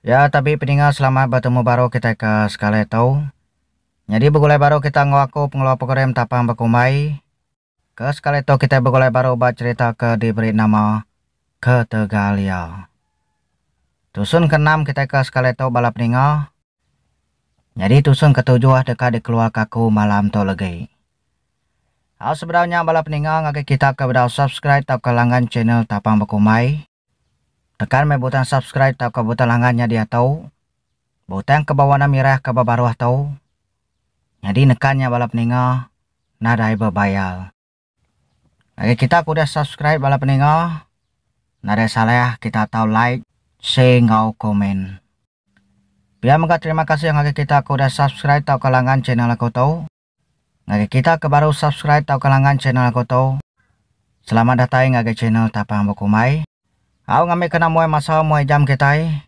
Ya tabi peninga selamat betemu baru kitai ke sekali tu. Nyadi begulai baru kita enggau aku pengeluar program Tapang Bekumbai. Ke sekali tu kitai begulai baru ba cherita ke diberi nama Ketegalia. Tusun ke enam kitai ke sekali tu bala peninga. Nyadi tusun ke tujuh deka dikeluarka aku malam tu legi. Au sebedau nya bala peninga ngagai kita ke bedau subscribe tauka langgan channel Tapang Bekumbai. Tekan meh butang subscribe tauka butang langgan nyadi atau butang ke bewarna mirah ke bebaruh tu nyadi nekan nya bala peninga nadai bebayar. Ngagai kita ke udah subscribe bala peninga nadai salah kita atau like, share enggau komen. Pia mega terima kasih ngagai kita ke udah subscribe tauka langgan channel aku tu. Ngagai kita ke baru subscribe tauka langgan channel aku tu, selamat datai ngagai channel Tapang Bekumbai. Au ngambi kena muai masa muai jam kitai.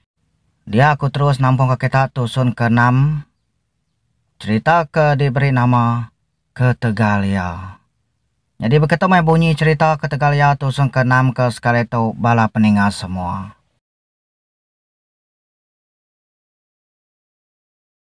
Dia aku terus nampungka kita tusun ke enam cherita ke diberi nama Ketegal Iya. Nyadi beketu meh bunyi cherita Ketegal Iya tusun ke enam ke sekali tu bala peninga semua.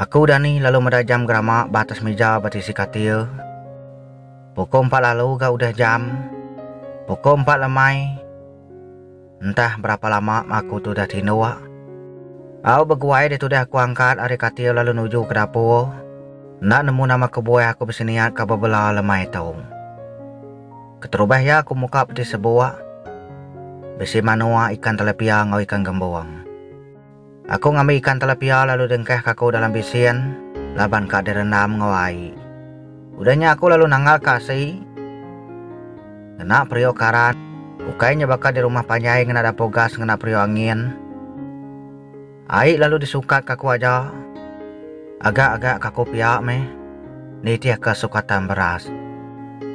Aku, Dani, lalu meda jam gerama ba atas mija betisi katil. Pukul empat lalu ga udah jam. Pukul empat lemai. Entah berapa lama aku tu udah tinduk. Au beguai dia tudah aku angkat ari katil lalu nuju ke dapur. Enda nemu nama kebuah aku bisi niat ka bebela lemai tu. Keterubah iya aku muka peti sebuk. Bisi manuk, ikan telepia enggau ikan gembung. Aku ngambi ikan telapia lalu dengkahka aku dalam bisin laban ka direndam enggau ai. Udah nya aku lalu nanggalka asi ngena periuk karan, ukai nya baka di rumah panjai ngena dapur gas ngena periuk angin. Ai lalu disukatka aku aja. Agak-agak ka aku pia meh nitihka sukatan beras.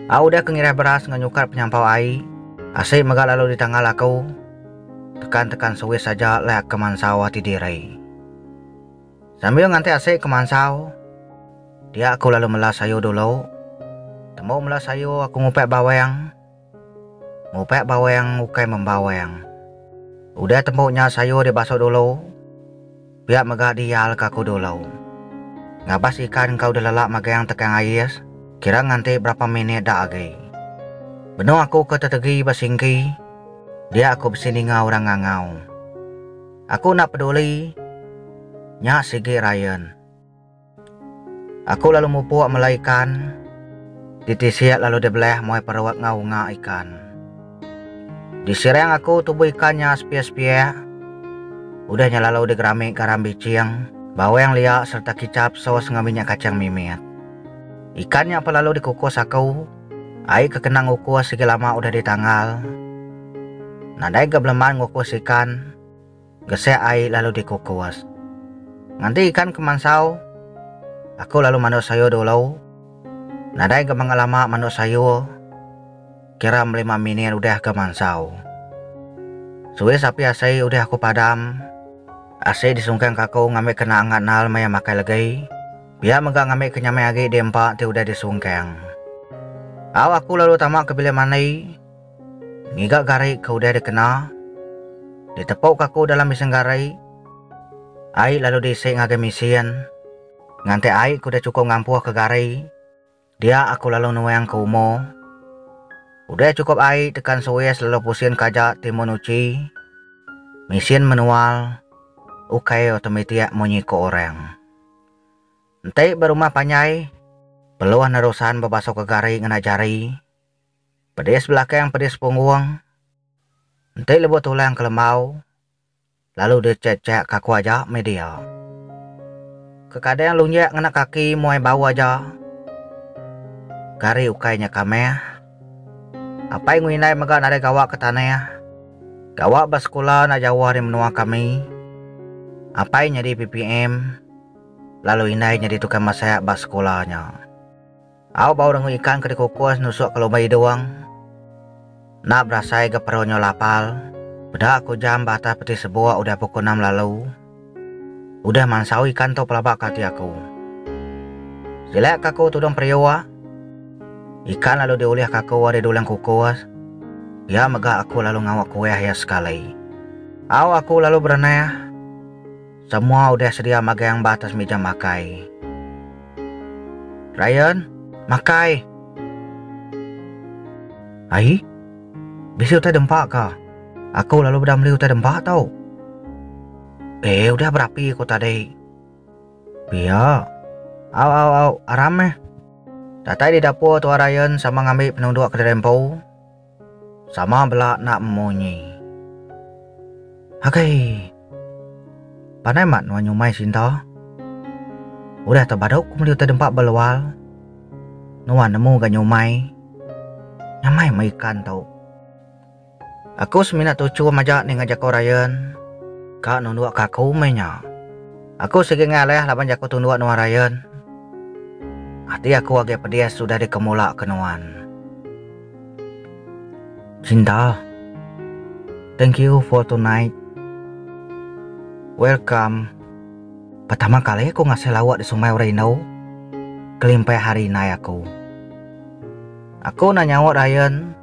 Au udah ke ngiras beras enggau nyukat penyampau ai, asi mega lalu ditanggal aku. Tekan tekan sewis aja leh ke mansau ati diri. Sambil nganti asik ke mansau, dia aku lalu mela sayur dulu. Tembu mela sayur aku ngupek bawang. Ngupek bawang ukai membawang. Udah tembu nya sayur dibasuh dulu. Pia mega dial ka aku dulu. Ngabas ikan engka udah lelak magang tekang ais, kira nganti berapa minit dak agi. Benung aku ke tetegi ba singgi, dia aku bisi ninga orang ngangau. Aku enda peduli, nya sigi Ryan. Aku lalu mupuk mela ikan. Titi siak lalu dibeleh muai perut enggau unga ikan. Disirang aku tubuh ikan nya sepiak-sepiak. Udah nya lalu digerami garam biching, bawang liak sereta kicap sos enggau minyak kachang mimit. Ikan nya pun lalu dikukus aku. Ai ke kena ngukus sigi lama udah ditanggal. Nadai ga beleman ngukus ikan. Gesek ai lalu dikukus. Nganti ikan ke mansau, aku lalu manduk sayur dulu. Nadai ga mega lama manduk sayur, kira belima minit udah ga mansau. Suwis api asi udah aku padam. Asi disungkangka aku ngambi kena angat nal maya makai legi. Pia mega ngambi ke nyamai agi di empa ti udah disungkang. Au aku lalu tama ke bilik mandi. Ngiga gari ke udah dikena ditepuka aku dalam bisin gari, ai lalu diisi ngagai mesin nganti ai ke udah chukup ngampuhka gari dia aku lalu nuangka umo. Udah chukup ai tekan suis lalu pusinka aja timun uchi. Mesin manual ukai automatic munyi ku orang. Enti ba rumah panjai peluh nerusan bebasuhka gari ngena jari. Pedis belakang pedis punggung. Enti lebuh tulang kelembau lalu dicek-cek kaku aja meh dia. Kekadang lunjak ngena kaki muai bau aja. Kari ukai nya kamah. Apai enggau indai mega nadai gawa ke tanah. Gawa ba sekula enda jauh ari menua kami. Apai nyadi PPM lalu indai nyadi tukang masak ba sekula nya. Au bau rengui ikan ke dikukus nusuk ke lumba idung. Enda berasai ga peru nyau lapal. Peda aku jam ba atas peti sebuk udah pukul enam lalu. Udah mansau ikan tu pelaba ke ati aku. Silek ka aku tudung periuk. Ikan lalu diulih ka aku ari dulang kukus. Pia mega aku lalu ngawa kuih iya sekali. Au aku lalu berenah. Samoa udah sedia magang ba atas mija makai. Ryan, makai! Ai, bisi utai dempa ka? Aku lalu beda meli utai dempa tau. Eh, udah berapi ko tadi. Pia. Au au au, aram meh. Datai di dapur tua Ryan sama ngambi penunduk kediri empu, Sama bela enda munyi. Agei. Panai mat nuan nyumai sinta. Udah tau badu ku meli utai dempa ba luar. Nuan nemu ga nyumai. Nyamai meh ikan tu. Aku semina tuchum aja ninga jaku Ryan. Ka nunduk ke aku meh nya. Aku sigi ngalih laban jaku tunduk nuan Ryan. Ati aku agei pedis udah dikemula ke nuan. Cinta. Thank you for tonight. Welcome. Pertama kali aku ngasai lawa di Sungai Urindu. Kelimpah hari indai aku. Aku enda nyaut Ryan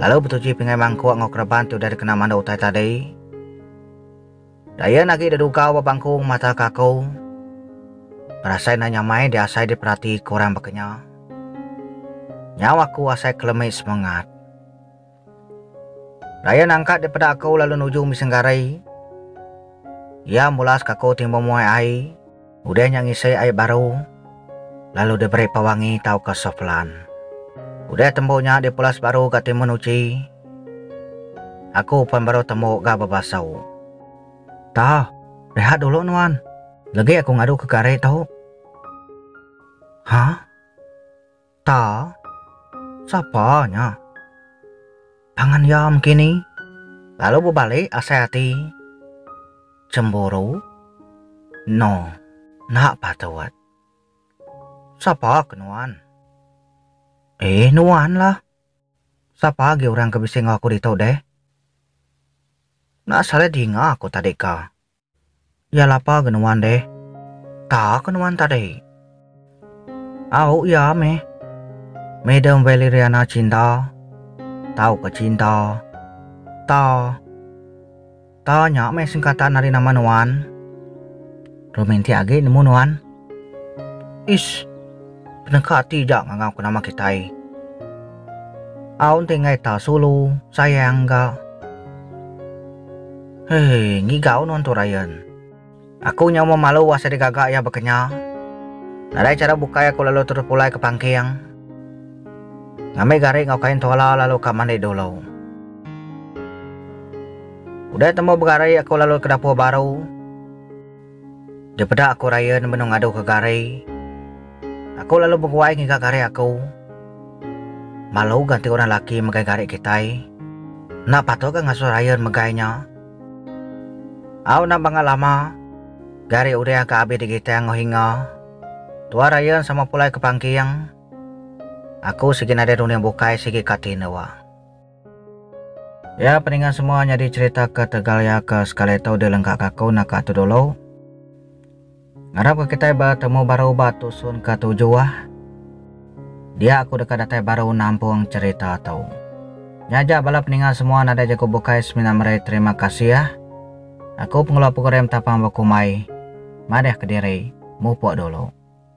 lalu betuji pingai mangkuk enggau kereban ti udah dikena mandu utai tadi. Dayan agi dedugau ba bangkung mata ke aku. Berasai enda nyamai diasai diperati ke orang baka nya. Nyau aku asai kelemi semengat. Dayan angkat dipeda aku lalu nuju mising gari. Iya mulaska aku timbung muai ai. Udah nya ngisi ai baru lalu diberi pewangi tauka soflan. Udah tembu nya dipulas baru ga timun uji. Aku pen baru tembu ga bebasau. Tah, rehat dulu nuan. Legi aku ngadu ke kari tu. Hah? Ta, sapa nya? Pangan iya mkini lalu bebalik asai ati. Cemburu? No, enda patut. Sapa ke nuan? Eh, nuanlah. Sapa agi orang ke bisi enggau aku ditu deh? Enda salah dinga aku tadika. Iya lapa ga nuan deh. Ta ka nuan tadi? Au iya meh. Madam Valeriana Cinta, tau ka Cinta. Ta. Ta nya meh singkatan ari nama nuan. Romantik agi nemu nuan. Ish, peneka ati ja ngangau ka nama kitai. Au enti enggai ta sulu, sayang ga. Hei, ngiga unun tu Ryan. Aku nyau memalu wah sida gaga iya bekenya. Nadai chara bukai aku lalu terus pulai ke pangking. Ngambi gari enggau kain tuala lalu ka mandi dulu. Udah tembu begari aku lalu ke dapur baru. Dipeda aku Ryan benung ngadu ke gari. Aku lalu beguai ngiga gari aku. Malu ga enti orang laki megai gari kitai. Enda patut ga ngasuh Ryan megai nya. Au enda bangah lama, gari Uriah ga abis digitang enggau hinga. Tuah Ryan sama pulai ke pangking. Aku sigi nadai runding bukai sigi ka ti endur. Ya peninga semua nyadi cerita ke tegal ya ke sekali tu di lengka ke aku naka tu dulu. Ngarap ke kitai ba temu baru ba tusun ke tujuh ah. Dia aku deka datai baru nampung cerita tu. Nya ja bala peninga semua nadai jaku bukai semina meri terima kasih ah. Aku pengeluar program tapang bekumbai. Madahka diri. Mupuk dulu.